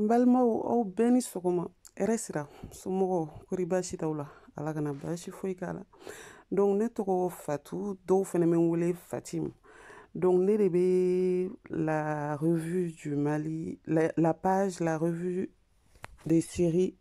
n balimaw aw bɛɛ ni sɔgɔma hɛrɛ sira somɔgɔw kori baasi t'aw la ala kana baasi foyi k'a la donc ne tɔgɔ fatu dɔw fɛnɛ bɛ n wele fatim donc ne de bɛ la revue du mali la, la page la revue des séries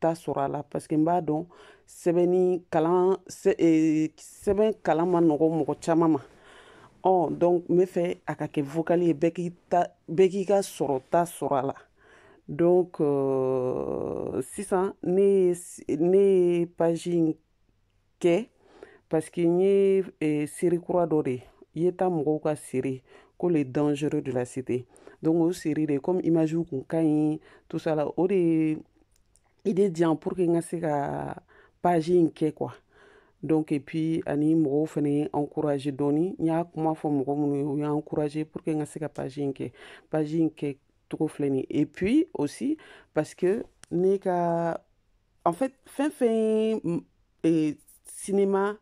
ta sɔrɔ a la parce que n b'a dɔn sɛbɛnni kalan e, sɛbɛn kalan man nɔgɔ mɔgɔ caman ma ɔ donc n bɛ fɛ a ka kɛ vocal ye bɛɛ k'i ta bɛɛ k'i ka sɔrɔta sɔrɔ a la donc euh, sisan ne ye ne ye page in kɛ parce que n ye eh, seri kura dɔ de ye ta mɔgɔw ka seri ko le dangereux de la cité donc o seri de comme image kun ka ɲi tout ça la o de idée di yan pour que n ka se ka page in kɛ quoi donc et puis ani mɔgɔw fana ye n encourager dɔɔni n y'a kuma fɔ mɔgɔ minnu ye u y'an encourager pour que n ka se ka page in kɛ page in kɛ cogo filɛ nin et puis aussi parce que ne ka en fait fɛn fɛn ye sinema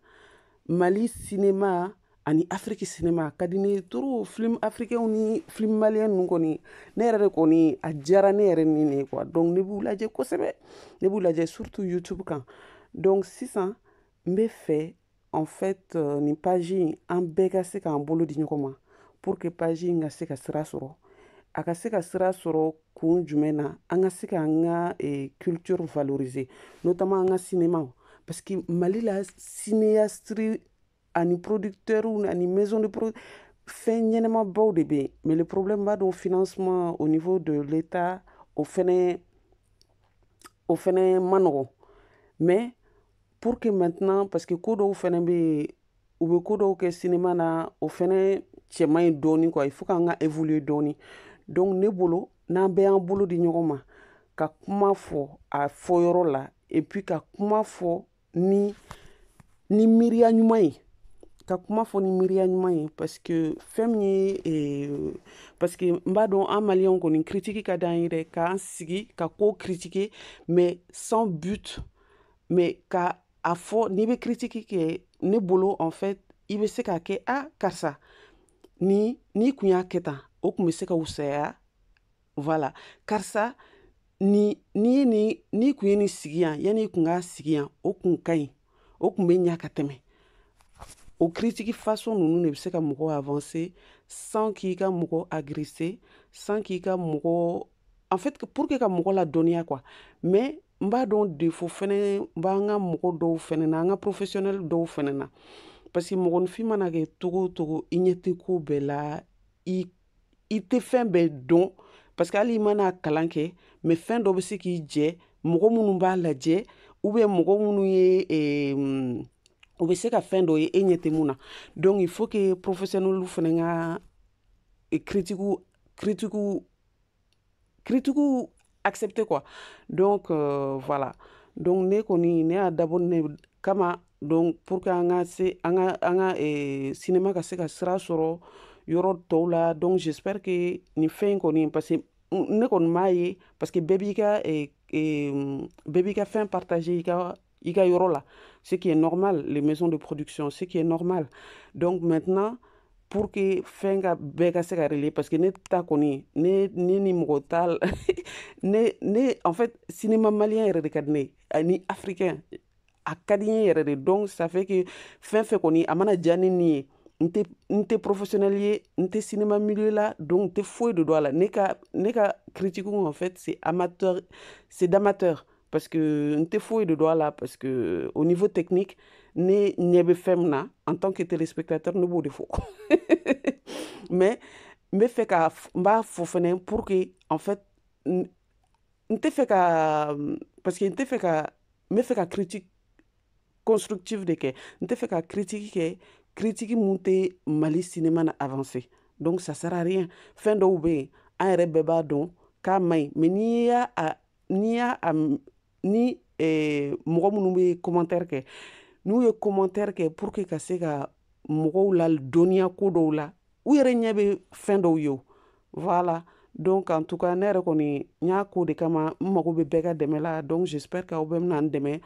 mali sinema ani afiriki sinema ka di ne trop film africain ni film malien ninnu kɔni ne yɛrɛ de kɔni a diyara ne yɛrɛ nin ye quoi donc ne b'u lajɛ kosɛbɛ ne b'u lajɛ surtout youtube kan donc sisan n bɛ fɛ en fait euh, nin page in an bɛɛ ka se k'an bolo di ɲɔgɔn ma pour que page in ka se ka sira sɔrɔ a ka se ka sira sɔrɔ kun jumɛn na an ka se k'an ka eh, culture valoriser notamment an ka cinéma parce que mali la cinéaste ani producteur ani maison de pro fɛn ɲɛnamabaw de bɛ yen mais le problème b'a dɔn financement au niveau de l'état o fɛnɛ o fɛnɛ man nɔgɔn mais pour que maintenant parce que ko dɔw fɛnɛ bɛ yen u bɛ ko dɔw kɛ sinima na o fɛnɛ cɛ man ɲi dɔɔni quoi il faut k'an ka évoluer dɔɔni donc ne bolo n'an bɛɛ y'an bolo di ɲɔgɔn ma ka kuma fɔ a fɔ yɔrɔ la et puis ka kuma fɔ ni ni miiriya ɲuman ye ka kuma fɔ ni miiriya ɲuman ye parce que fɛn min ye eh, parce que n b'a dɔn an maliyɛnw kɔni kiritiki ka d'an ye dɛ k'an sigi ka ko kiritike mais sans but mais k'a fɔ n'i bɛ kiritiki kɛ ne bolo en fait i bɛ se k'a kɛ a karisa ni n'i tun y'a kɛ tan o tun bɛ se ka wusaya voilà karisa ni n'i ye nin n'i tun ye nin sigi yan yanni i tun k'a sigi yan o kun ka ɲi o tun bɛ ɲa ka tɛmɛ o kiritiki façon ninnu de bɛ se ka mɔgɔ avanse sans k'i ka mɔgɔ agirese sans k'i ka mɔgɔ en fait pour que ka mɔgɔ ladɔnniya quoi mais n b'a dɔn défaut fɛnɛ b'an ka mɔgɔ dɔw fɛnɛ na an ka professionnel dɔw fɛnɛ na parce que mɔgɔninfin mana kɛ cogo o cogo i ɲɛ tɛ ko bɛɛ la i i tɛ fɛn bɛɛ dɔn parce que hali i mana kalan kɛ mais fɛn dɔ bɛ se k'i jɛ mɔgɔ minnu b'a lajɛ ou bien mɔgɔ minnu ye eh, o bɛ se ka fɛn dɔ ye e ɲɛ tɛ mun na donc il faut que professionnelw fɛnɛ ka eh, critiquew critiquew critiques accepter quoi donc euh, voilà donc ne kɔni ne y'a dabɔ o de kama donc pour que an ka se an ka an ka eh, cinéma ka se ka sira sɔrɔ yɔrɔ tɔw la donc j'espère que nin fɛn in kɔni parce que ne kɔni m'a ye parce que bɛɛ b'i ka eh, eh, bɛɛ b'i ka fɛn partager i ka i ka yɔrɔ la ce qui est normal les maisons de production ce qui est normal donc maintenant pour que fɛn ka bɛɛ ka se ka relayer parce que ne ta kɔni ne ne ni mɔgɔ t'a la ne ne en fait cinéma malien yɛrɛ de ka di ne ye ani africain a ka di n ye yɛrɛ de donc ça fait que fɛn fɛn kɔni a mana diya ne ni ye n tɛ n tɛ professionnel ye n tɛ cinéma milieu la donc n tɛ foyi de dɔn a la ne ka ne ka critique en fait c'est amateur c'est d'amateur parce que n tɛ foyi de dɔn a la parce que euh, au niveau technique ne ɲɛ bɛ fɛn min na en tant que téléspectateur ne b'o de fɔ mais n bɛ fɛ ka n b'a fɔ fɛnɛ pour que en fait n tɛ fɛ ka parce que n tɛ fɛ ka n bɛ fɛ ka critique constructive de kɛ n tɛ fɛ ka critique kɛ critique mun tɛ mali cinéma na avancer donc ça sert à rien fɛn dɔw bɛ yen an yɛrɛ bɛɛ b'a dɔn k'a man ɲi mais n'i y'a a n'i y'a ni eh, mɔgɔ minnu bɛ commentaire kɛ n'u ye commentaire kɛ pour que ka se ka mɔgɔw ladɔnniya ko dɔw la u yɛrɛ ɲɛ bɛ fɛn dɔw ye voilà donc en tout cas ne yɛrɛ kɔni n y'a k'o de kama n mago bɛ bɛɛ ka dɛmɛ la donc j'espère que aw bɛɛ bɛna n dɛmɛ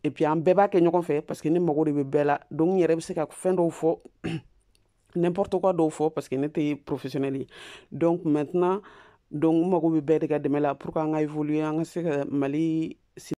et puis an bɛɛ b'a kɛ ɲɔgɔn fɛ parce que ne mago de bɛ bɛɛ la donc n yɛrɛ bɛ se ka fɛn dɔw fɔ n'importe quoi dɔw fɔ parce que ne tɛ professionnel ye donc maintenant donc n mago bɛ bɛɛ de ka dɛmɛ la pour que an ka évoluer an ka se ka mali